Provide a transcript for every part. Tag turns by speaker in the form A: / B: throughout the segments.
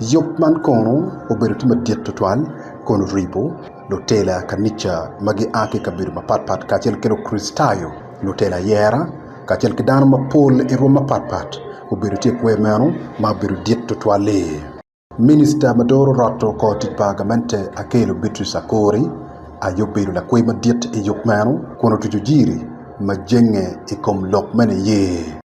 A: Yub man kono obedo tye madit tutwal kun oribo lutela kanica ma gia ki i kabedo mapat pat kacel ki Lukricitayo, lutela ayera, kacel ki dano mapol i rwom mapat pat obedo tye i kwer meno ma obedo dit tutwal-li. Minica ma doro rot kor tic pa gamente Akello Beatrice Akori aye obedo lakwer madit i yub meno kun otuco jiri ma jenge i kom lok me niye.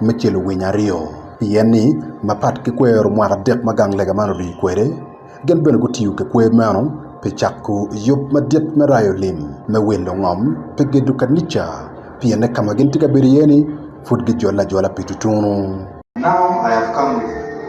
A: me celo winyo aryo pien ni mapat ki kwero mwaka adek ma gang lega man rii kwede gin bene gutiyo ki kwer meno pi cako yub madit me rayo lim me wil lungom pi gedo kanica pienne ka ma gin tye ka bedo iye-ni pud gijole ajola pi tutunu.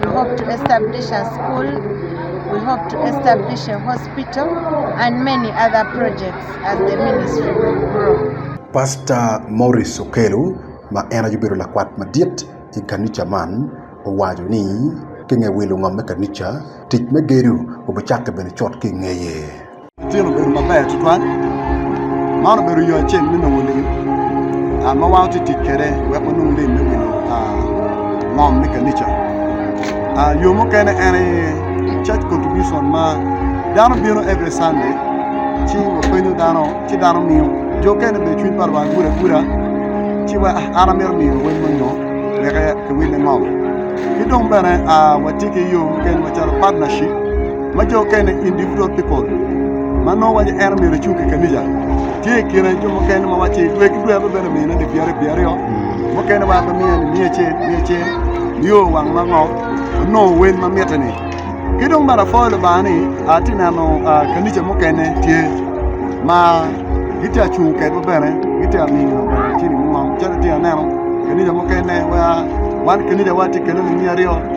B: we hope to establish a school, we hope to establish a hospital and many other projects as the ministry will grow. Pastor
A: Maurice Okelo ma en aye obedo lakwat madit i kanica man owaco ni kinge wilo ngom me kanica, tic me gedo obicakke bene cut ki ingeye. Ceng obedo
C: maber tutwal, man obedo yo acel me nongo lim ma wan watye ka tic kwede wek wanong lim me wilo ngom me kanica. Yo mukene en aye Church contribution ma dano bino every Sunday ci wapenyo dano ci dano miyo, jo okene bene cwiny pa lwak gudo aguda ci wa ah an amito miyo lawem moni ngo wek kiwille ngom. Ki dong bene watye ki yo mukene macalo partnership. ma jo okene, individual people, ma nongo waco ni en omyero ecung ki kanica. Tye i kine jo mukene ma waco ni dwe ki dwe abibene mine ni pyerre pye aryo, mukene waco ni miya ni miya acel miya acel, nio wang ma ngo onongo wel ma mitte-ni. Ki dong bene apwoyo Lubanga ni atye ka neno kanica mukene tye ma gitye ka cung kwedwa bene gitye ka miyo cilinig mo ngom calo atye ka neno kanica mukene wa wan kanicawa tye kene lung aryo.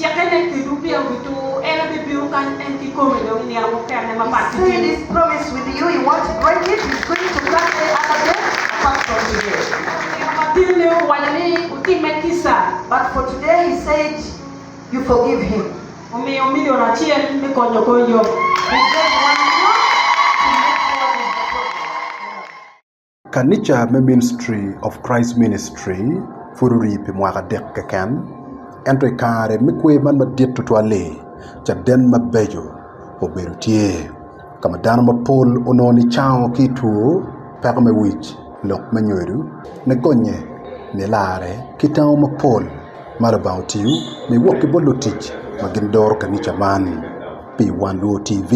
A: Cikke ne kedo pi awito, en aye bibino
D: kany en kikome dong i nino mukene ma pat ki dini. Omiyo milion acel me konyo kor yom.
A: Kanica me Ministry of Christ Ministry pud orii pi mwaka adek keken, ento i kare me kwer man madit tutwal-li, caden mabeco obedo tye, ka ma dano mapol onongo nicango ki i two, peko me wic, lok me nyodo, nigonye, nilarre, ki tango mapol. Ma Lubanga otiyo ni wok ki bot lutic ma gin doro kanica man pi Wan Luo TV,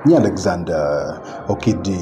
A: nyi Alexander Okidi.